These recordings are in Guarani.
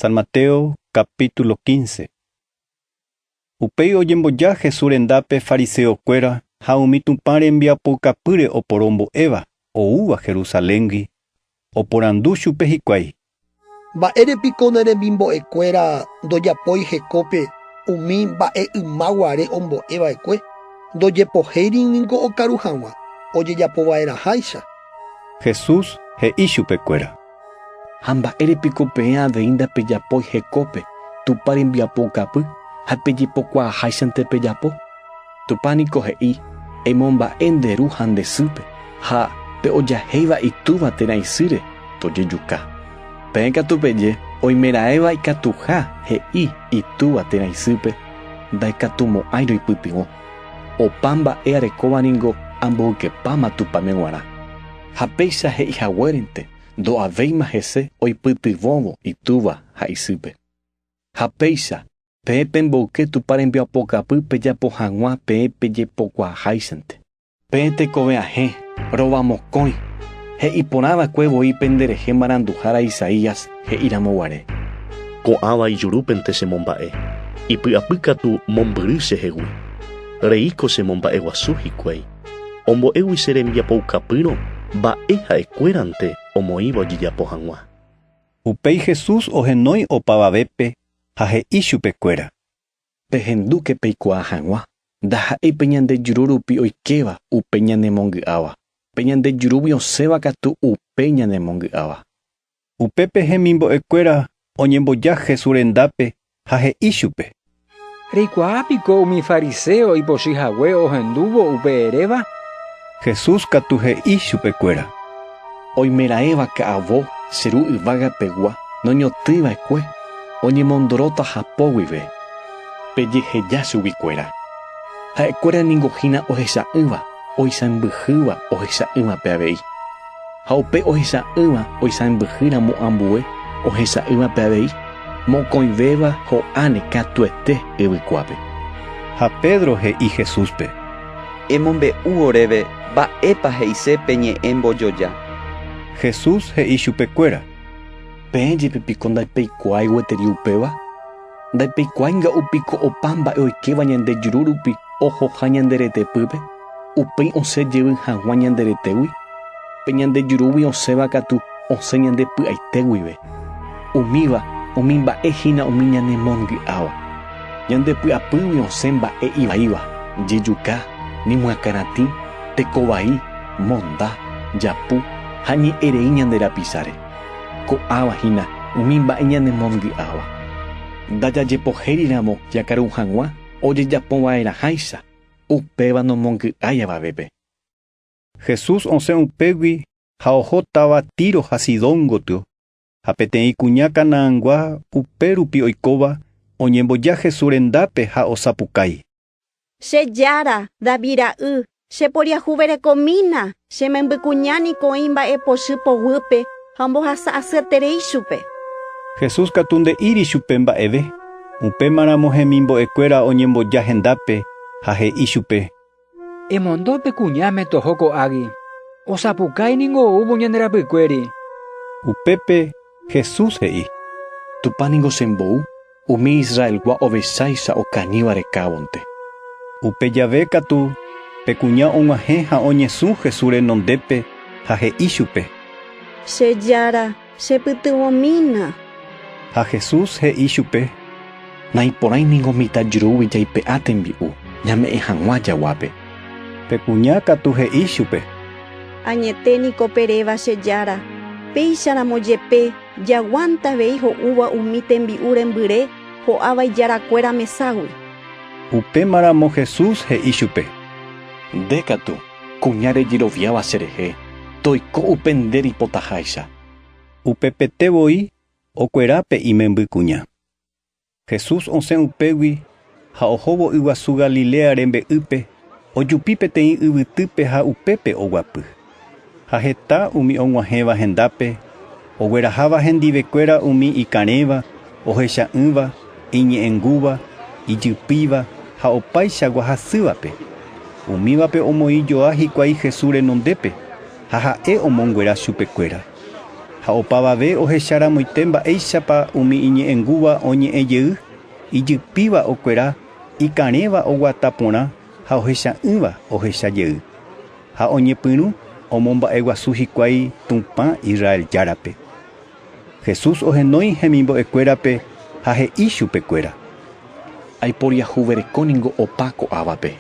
San Mateo capítulo 15. Upéi ojemboja Jesús rendápe fariseokuéra ha umi Tupã rembiapoukapýre oporo mbo'éva oúva Jerusaléngui, oporandu chupe hikuái. Mba'ére piko ne remimbo'ekuéra ndojapói hekópe umi mba'e yma guare ombo'e va'ekue? Ndojepohéiri ningo okaru hag̃ua ojejapo va'erãháicha. Jesús he'i chupekuéra. Ha mba'ére piko peẽ avei ndapejapói hekópe Tupã rembiapo okapy ha pejepokuaaháichante pejapo? Tupã niko he'i, Emomba'e nde ru ha nde sýpe, ha pe ojahéiva itúva térã isýre, tojejuka. Peẽ katu peje, Oimeraẽva ikatuha he'i itúva térã isýpe, Ndaikatumo'ãi roipytyvõ. Opa mba'e arekóva ningo amboykepáma Tupãme g̃uarã. Ha péicha he'i haguérente ndo'avéima hese oipytyvõvo itúva ha isýpe. Ha péicha, peẽ pemboyke Tupã rembiapokapy pejapo hag̃ua peẽ pejepokuaaháichante. Peẽ tekove ahẽ, rova mokõi, he'i porã va'ekue voi pende rehe maranduhára Isaías he'i ramo guare. Ko'ãva ijurúpente che momba'e, ipy'apy katu mombyry chehegui. Reíko che momba'e guasu hikuái. Ombo'égui che rembiapoukapyrõ mba'e ha'ekuérante omoĩva ojejapo hag̃ua. Upéi Jesús ohenói opavavépe ha he'i chupekuéra. Pehendúke peikuaa hag̃ua, ndaha'éi pe ñande juru rupi oikéva upe ñanemongy'áva, pe ñande jurúgui osẽva katu upe ñanemongy'áva. Upépe hemimbo'ekuéra oñemboja Jesús rendápe ha he'i chupe: Reikuaa piko umi fariséo ipochy hague ohendúvo upe eréva? Jesús katu he'i chupekuéra: Oimeraẽva ka'avo che ru yvága pegua noñotỹiva'ekue oñemondoróta hapo guive, pejeheja chugui kuéra. Ha'ekuéra ningo hína ohecha'ỹva oisãmbyhýva ohecha'ỹvape avei. Ha upe ohecha'ỹva oisãmbyhy ramo ambue ohecha'ỹva pe avei, mokõivéva ho'áne katuete yvykuápe. Ha Pedro he'i Jesúspe. Emombe'u oréve mba'épa he'ise pe ñe'ẽ mbojoja. Jesús he'i chupekuéra. Peẽ jepe piko ndapeikuaái gueteri upéva? Ndaipekuáinga upiko opa mba'e oikéva ñande juru rupi ohoha ñande retepýpe, upéi osẽ jevy haguã ñande retégui? Pe ñande jurúgui osẽva katu osẽ ñande py'aite guive. Umíva umi mba'e hína umi ñanemongy'áva. Ñande py'apýgui osẽ mba'e ivaíva, jejuka, ñemyakãratĩ, teko vai, monda, japu ha ñe'ẽrei ñande rapisáre. Ko'ãva hína umi mba'e ñanemongy'áva. Ndajajepohériramo jakaru hag̃ua ojejapova'erãháicha, upéva nomongy'ái avavépe. Jesús osẽ upégui ha oho táva Tiro ha Sidón gotyo, ha peteĩ kuña canaangua upérupi oikóva oñemboja Jesús rendápe ha osapukái. Che jára, David ra'y, cheporiahuverekomína, che membykuña niko oĩ mba'e pochy poguýpe ha ombohasa asyeterei chupe. Jesús katu nde'íri chupe mba'eve. Upémaramo hemimbo'ekuéra oñemboja hendápe ha he'i chupe. Emondo pe kuñáme toho ko'águi. Osapukái ningo oúvo ñande rapykuéri. Upépe Jesús he'i, Tupã ningo chembou umi Israelgua ovecháicha okañýva rekávonte. Upe jave katu, pe kuña og̃uahẽ ha oñesũ Jesús renondépe ha he'i chupe. Che Jára, chepytyvõmína. Ha Jesús he'i chupe. Naiporãi ningo mitã jurúgui jaipe'a tembi'u ñame'ẽ hag̃ua jaguápe. Pe kuña katu he'i chupe. Añete niko pe réva che jára, péicharamo jepe jaguánta avei ho'úva umi tembi'u rembyre ho'áva ijarakuéra meságui. Upéma ramo Jesús he'i chupe. Nde katu, kuña rejeroviáva che rehe, toiko upe nde reipotaháicha. Upepete voi okuera pe imemby kuña. Jesús osẽ upégui ha ohóvo yguasu Galilea rembe'ýpe, ojupi peteĩ yvytýpe ha upépe oguapy. Ha heta umi og̃uahẽva hendápe, ogueraháva hendivekuéra umi ikarẽva, ohecha'ỹva, iñe'ẽngúva, ijypýiva ha opaichagua hasývape. Umívape omoĩ joa hikuái Jesús renondépe, ha ha'e omonguera chupekuéra. Ha opavave ohecharamoite mba'éichapa umi iñe'ẽngúva oñe'ẽ jey, ijypíva okuera, ikarẽva oguata porã ha ohecha'ỹva ohecha jey. Ha oñepyrũ omomba'eguasu hikuái Tupã Israel Járape. Jesús ohenói hemimbo'ekuérape ha he'i chupekuéra. Aiporiahuvereko ningo opa ko'ávape.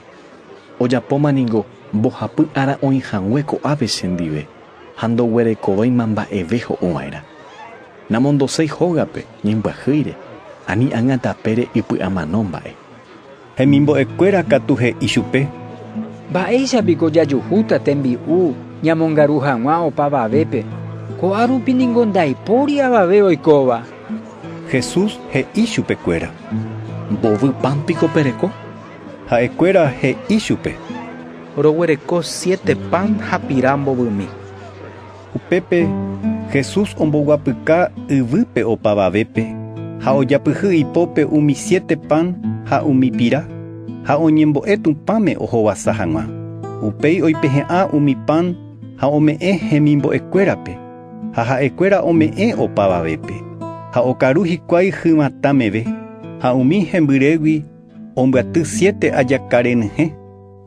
Ojapóma ningo mbohapy ára oĩhague ko'ápe chendive. Ha ndoguerekovéima mba'eve ho'u va'erã. Namondoséi hógape, ñembyahýire, ani ág̃a tapére ipy'amano mba'e. Hemimbo'ekuéra katu he'i chupe. Mba'éicha piko jajuhúta tembi'u ñamongaru hag̃ua opavavépe, ko'a rupi ningo ndaipóri avave oikóva. Jesús he'i chupekuéra. Mbovy pan piko pereko? Ha'ekuéra he'i chupe. Roguereko siete pan ha pira mbovymi. Upépe Jesús omboguapyka yvýpe opavavépe ha ojapyhy ipópe umi siete pan ha umi pira, ha oñembo'e Tupãme ohovasa hag̃ua. Upéi oipehe'ã umi pan ha ome'ẽ hemimbo'ekuérape, ha ha'ekuéra ome'ẽ opavavépe, ha okaru hikuái hyvatã meve ha umi hembyrégui. Ombyaty siete ajaka renyhẽ.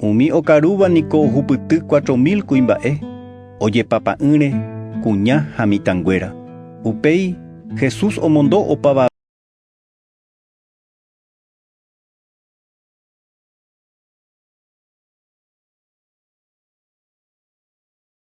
Umi okarúva niko ohupyty cuatro mil kuimba'e, ojepapa'ỹre, kuña ha mitãnguéra. Upéi Jesús omondo opavave.